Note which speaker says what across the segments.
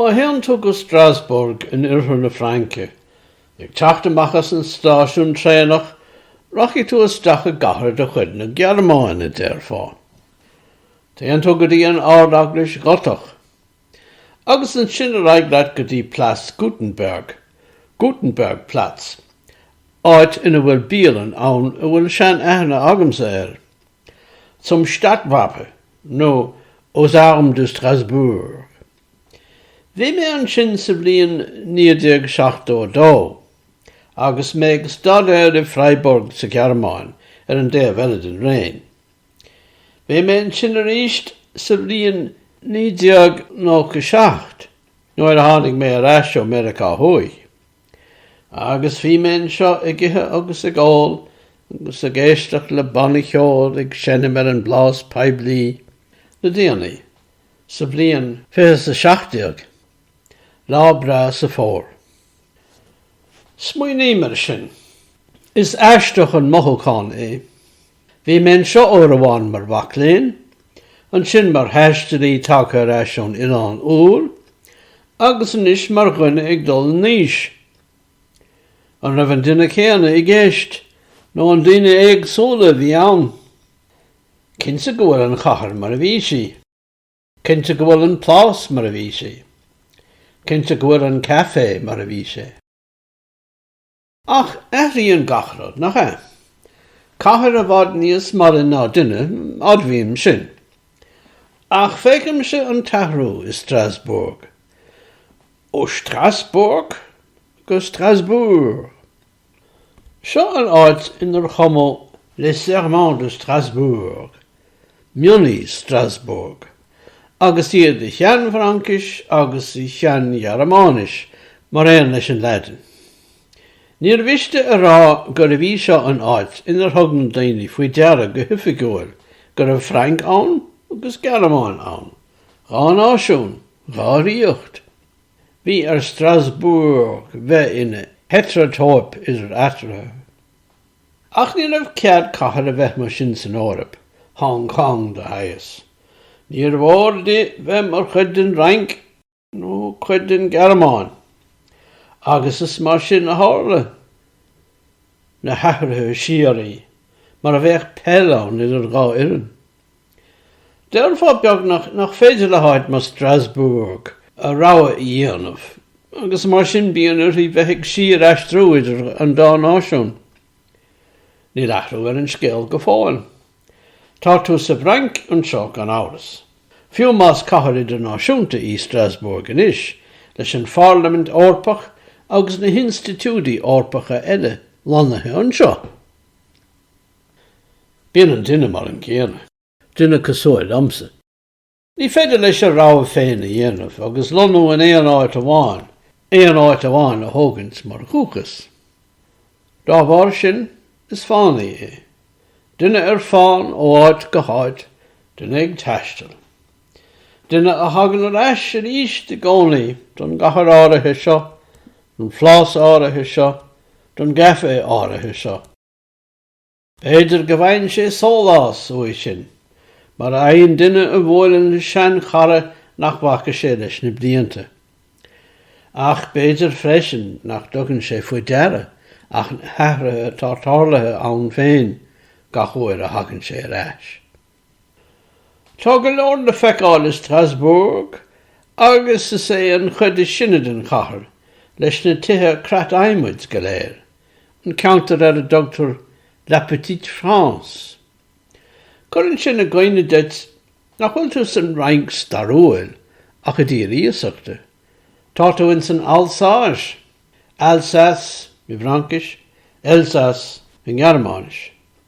Speaker 1: Má théann tú go Strasbourg in oirthear na Fraince, ag teacht amach as an stáisiún traenach, rachaidh tú isteach i gcathair de chuid na Gearmáine, déarfá. Téann tú go dtí an Ard-Eaglais Ghotach, Agus ansin ar aghaidh leat go dtí Place Gutenberg, Gutenbergplatz, áit ina bhfuil bialann ann a bhfuil sean aithne agamsa air, Zum Stadtwache nó Aux Armes de Strasbourg. Bhí mé ansin sa bhliain 1972 agus mé ag staidéar i Freiburg sa Ghearmáin ar an dtaobh eile den Réin. Bhí mé ansin arís sa bhliain 1997 nuair a tháinig mé ar ais ó Meiriceá Thuaidh. Agus bhí mé anseo ag ithe agus ag ól agus ag éisteacht le banna cheoil ag seinm ar an bplás poiblí le déanaí, sa bhliain fiche is a seacht déag. Lá breá sa Fómhar. Smaoiním ar sin. Is aisteach an mothúchán é. Bhí mé anseo uair amháin mar mhac léinn, ansin mar thaistealaí tagtha ar ais ón Oileán Úr, agus anois mar dhuine ag dul in aois. An raibh an duine céanna i gceist, nó an daoine éagsúla a bhí ann? Cinnte go bhfuil an chathair mar a bhí sí. Cinnte go bhfuil an Plás mar a bhí sé. Cinnte go bhfuil an Café mar a bhí sé. Ach athríonn gach rud, nach ea? Cathair i bhfad níos maille ná duine, admhaím sin. Ach feicimse an t-athrú i Strasbourg. Ó Strassburg go Strasbourg. Seo an áit inar chumadh Les Serments de Strasbourg. mionnaí Strasbourg, agus iad i Shean-Fhraincis agus i Shean-Ghearmáinis mar aon leis an Laidin. Níor mhiste a rá gurbh í seo an áit inar thug na daoine faoi deara go hoifigiúil go raibh Frainc ann agus Gearmáin ann, dhá náisiún, dhá ríocht. Bhí ar Strasbourg bheith ina heitreatóip idir eatarthu. Ach ní raibh cead ag cathair a bheith mar sin san Eoraip, Hong Cong de shaghas. Níor mhór di bheith mar chuid den Fhrainc nó cuid den Ghearmáin. Agus is mar sin a tharla na hathruithe síoraí, mar a bheadh peil ann idir dhá fhoireann. Déarfá beagnach nach féidir le áit mar Strasbourg a rogha a dhéanamh agus mar sin bíonn uirthi bheith ag síor-aistriú idir an dá náisiún. Níl athrú ar an scéal go fóill. Tá tú sa bhFrainc anseo gan amhras. Fiú más cathair idirnáisiúnta í Strasbourg anois, leis an Phairlimint Eorpach agus na hinstitiúidí Eorpacha eile lonnaithe anseo, Bíonn an duine mar an gcéanna. Duine cosúil liomsa. Ní féidir leis a rogha féin a dhéanamh agus lonnú in aon áit amháin, aon áit amháin a thógaint mar dhúchas. Dá bharr sin, is fánaí é. Duine ar fán, ó áit go háit, duine ag taisteal. Duine a thagann ar ais arís i gcónaí, don gcathair áirithe seo, don phlás áirithe seo, don gcaife áirithe seo. B'fhéidir go bhfaigheann sé sólás uaidh sin, mar a fhaigheann duine a bhuaileann le sean-chara nach bhfaca sé leis na blianta. Ach b'fhéidir freisin nach dtugann sé faoi deara ach na hathruithe atá tarlaithe ann féin gach uair a thagann sé ar ais. Tá go leor le feiceáil i Strasbourg agus is é an chuid is sine den chathair, leis na tithe creat-adhmaid go léir, an ceantar ar a dtugtar La Petite France. Cuireann sin i gcuimhne duit nach bhfuil tú san Fhrainc stairiúil ach i dtír iasachta. Tá tú in san Alsáis, Alsace i bhFraincis, Elsass i nGearmáinis.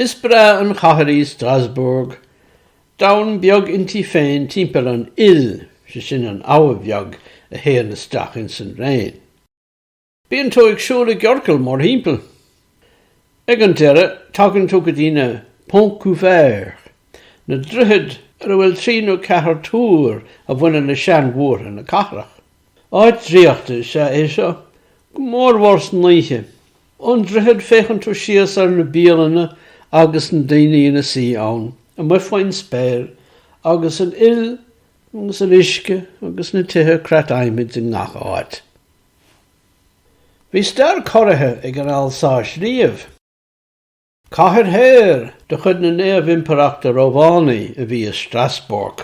Speaker 1: Is breá an chathair í Strasbourg. Domhan beag inti féin timpeall an Ill, sé sin an abha bheag a théann isteach ins an Réin. Bíonn tú ag siúl i gciorcal mórthimpeall. Ag an deireadh tagann tú go dtí na Ponts Couverts, na droichid ar a bhfuil trí nó ceathair túr a bhaineann le seanmhúrtha na cathrach. Áit draíochta is ea é seo, go mór mhór san oíche Ón droichead féachann tú síos ar na bialanna agus na daoine ina suí ann, amuigh faoin spéir agus an Ill agus an uisce agus na tithe creat adhmaid i ngach áit. Bhí stair corraithe ag an Alsáis riamh. Cathair shaor de chuid na Naomh-Impireachta Rómhánaí a bhí i Strasbourg,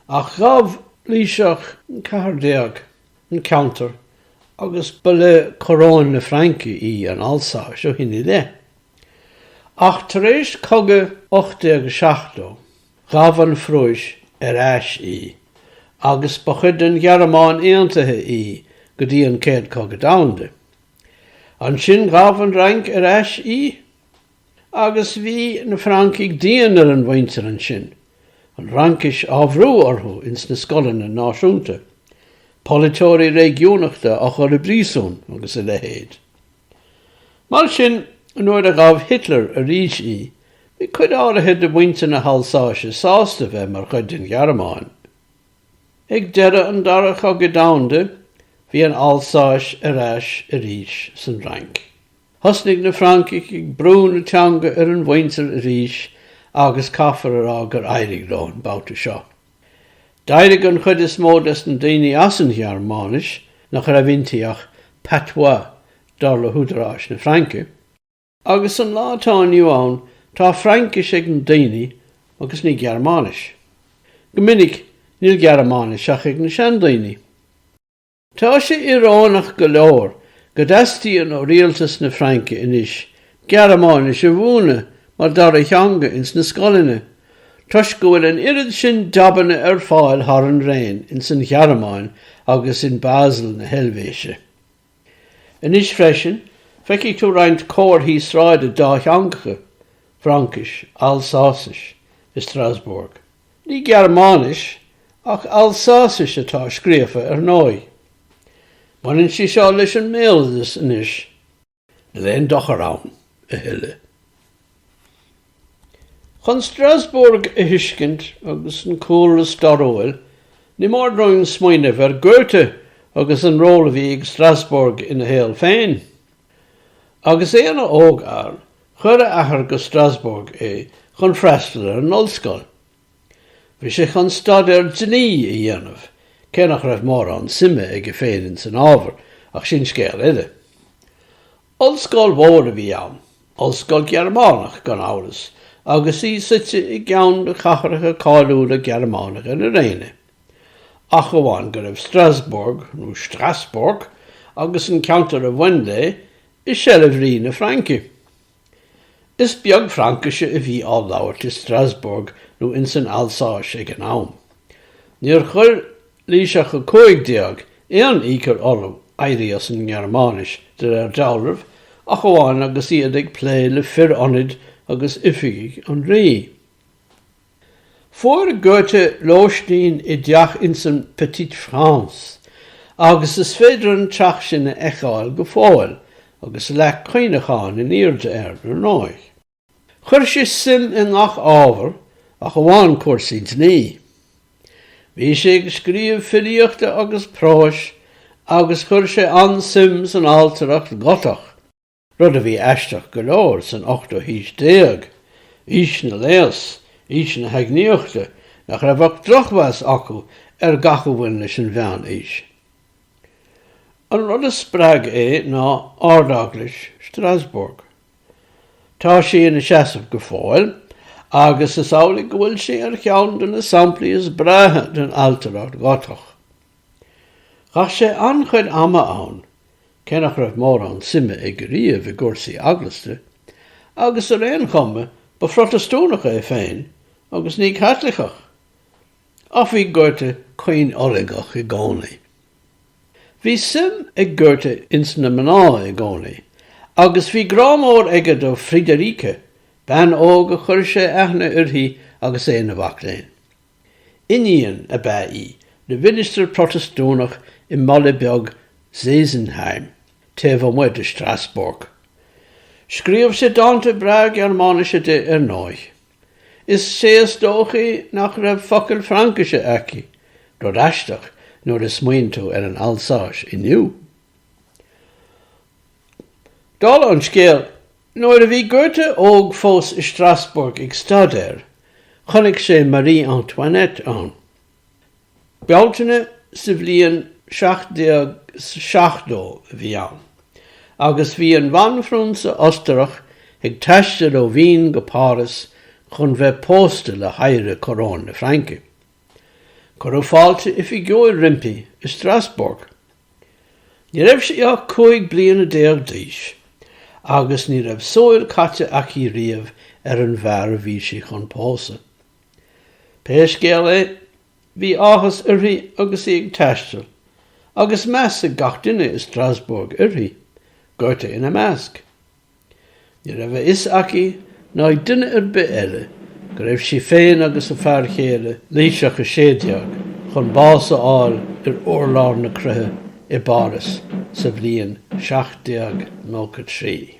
Speaker 1: ach ghabh Laoiseach an ceathair déag an ceantar agus ba le coróin na Fraince í an Alsáis ó shin i leith. Ach tar éis cogaidh 1870, ghabh an Phrúis ar ais í, agus ba chuid den Ghearmáin Aontaithe í go dtí an Chéad Cogadh Domhanda. Ansin ghabh an Fhrainc ar ais í agus bhí na Francaigh dian ar an mhuintir ansin, an Fhraincis á bhrú orthu ins na scoileanna náisiúnta, polaiteoirí réigiúnachta á chur i bpríosún agus a leithéid. Mar sin nuair a ghabh Hitler arís í bhí cuid áirithe de mhuintir na hAlsáise sásta bheith mar chuid den Ghearmáin. Ag deireadh an Dara Chogaidh Domhanda bhí an Alsáis ar ais arís san Fhrainc. Thosnaigh na Francaigh ag brú na teanga ar an mhuintir arís agus caithfear a rá gur éirigh leo an babhta seo. D'éirigh an chuid is mó des na daoine as an Ghearmáinis, nach raibh inti ach patois dar le húdaráis na Fraince, Agus an lá atá inniu ann tá Fraincis ag na daoine agus ní Gearmáinis. Go minic níl Gearmáinis ach ag na seandaoine. Tá sé ioróineach go leor go dteastaíonn ó rialtas na Fraince anois Gearmáinis a mhúineadh mar dara theanga ins na scoileanna toisc go bhfuil an oiread sin jabanna ar fáil thar an Réin ins an Ghearmáin agus in Basel na hEilbhéise. Anois freisin, feicfidh tú roinnt comharthaí sráide dátheangacha, Fraincis, Alsásais, i Strasbourg. Ní Gearmáinis, ach Alsásais atá scríofa ar ndóigh. Baineann sé seo leis an mbéaloideas anois. Níl aon dochar ann a thuilleadh. Chun Strasbourg a thuiscint agus an cúlra stairiúil, ní mór dúinn smaoineamh ar Goethe agus an ról a bhí ag Strasbourg ina shaol féin. Agus é ina ógfhear, chuir a athair go Strasbourg é chun freastal ar an ollscoil. Bhí sé chun staidéar dlí a dhéanamh, cé nach raibh mórán suime aige féin ins an ábhar, ach sin scéal eile. Ollscoil mhór a bhí ann, ollscoil Gearmánach gan amhras, agus í suite i gceann de chathracha cáiliúla Gearmánacha na Réine. Ach amháin go raibh Strasbourg, nó Strassburg, agus an ceantar a bhain léi, i seilbh Rí na Fraince. Is beag Fraincise a bhí á labhairt i Strasbourg nó insan Alsáis ag an am. Níor chuir Laoiseach 15 aon iachall orthu éirí as an nGearmáinis, de réir dealraimh, ach amháin agus iad ag plé le fir ionaid agus oifigigh an rí. Fuair Goethe lóistín i dteach ins an Petite France, agus is féidir an teach sin a fheiceáil go fóill, agus leac cuimhneacháin in airde air, ar ndóigh. Chuir sé suim i ngach ábhar ach amháin cúrsaí dlí. Bhí sé ag scríobh filíochta agus próis agus chuir sé an-suim san ailtireacht Ghotach, rud a bhí aisteach go leor san ochtú haois déag, aois na léas, aois na heagnaíochta, nach raibh ach drochmheas acu ar gach a bhain leis an mheán-aois. An rud a spreag é ná Ard-Eaglais Strasbourg. Tá sí ina seasamh go fóill agus is amhlaidh go bhfuil sí ar cheann de na samplaí is breátha den ailtireacht Ghotach. Chaith sé an-chuid ama ann, cé nach raibh mórán suime aige riamh i gcúrsaí eaglasta, agus ar aon chuma ba Phrotastúnach é féin agus ní Caitliceach. Ach bhí Goethe caoinfhulangach i gcónaí. Bhí suim ag Goethe ins na mná i gcónaí, agus bhí grá mór aige do Friederike, bean óg a chuir sé aithne uirthi agus é ina mhac léinn. Iníon ab ea í le ministir Protastúnach i mbaile beag Sesenheim, taobh amuigh de Strasbourg. Scríobh sé dánta breá Gearmáinise di ar ndóigh. Is é is dóichí nach raibh focal Fraincise aici, rud aisteach nuair a smaoin tú ar an Alsáis inniu. Dála an scéal, nuair a bhí Goethe óg fós i Strasbourg ag staidéar, chonaic sé Marie Antoinette ann. Bealtaine sa bhliain 1770 a bhí ann agus bhí an bhanphrionsa Ostarach ag taisteal ó Vín go Páras chun bheith pósta le hoidhre coróin na Fraince. Cuireadh fáilte oifigiúil roimpi i Strasbourg. Ní raibh sí ach cúig bliana déag d'aois agus ní raibh súil caite aici riamh ar an bhfear a bhí sí chun pósadh. Pé scéal é, bhí áthas uirthi agus í ag taisteal, agus meas ag gach duine i Strasbourg uirthi, Goethe ina measc. Ní raibh a fhios aici ná ag duine ar bith eile go raibh sí féin agus a fear chéile, Laoiseach a Sé Déag, chun bás a fháil ar urlár na croiche i bPáras sa bhliain 1793.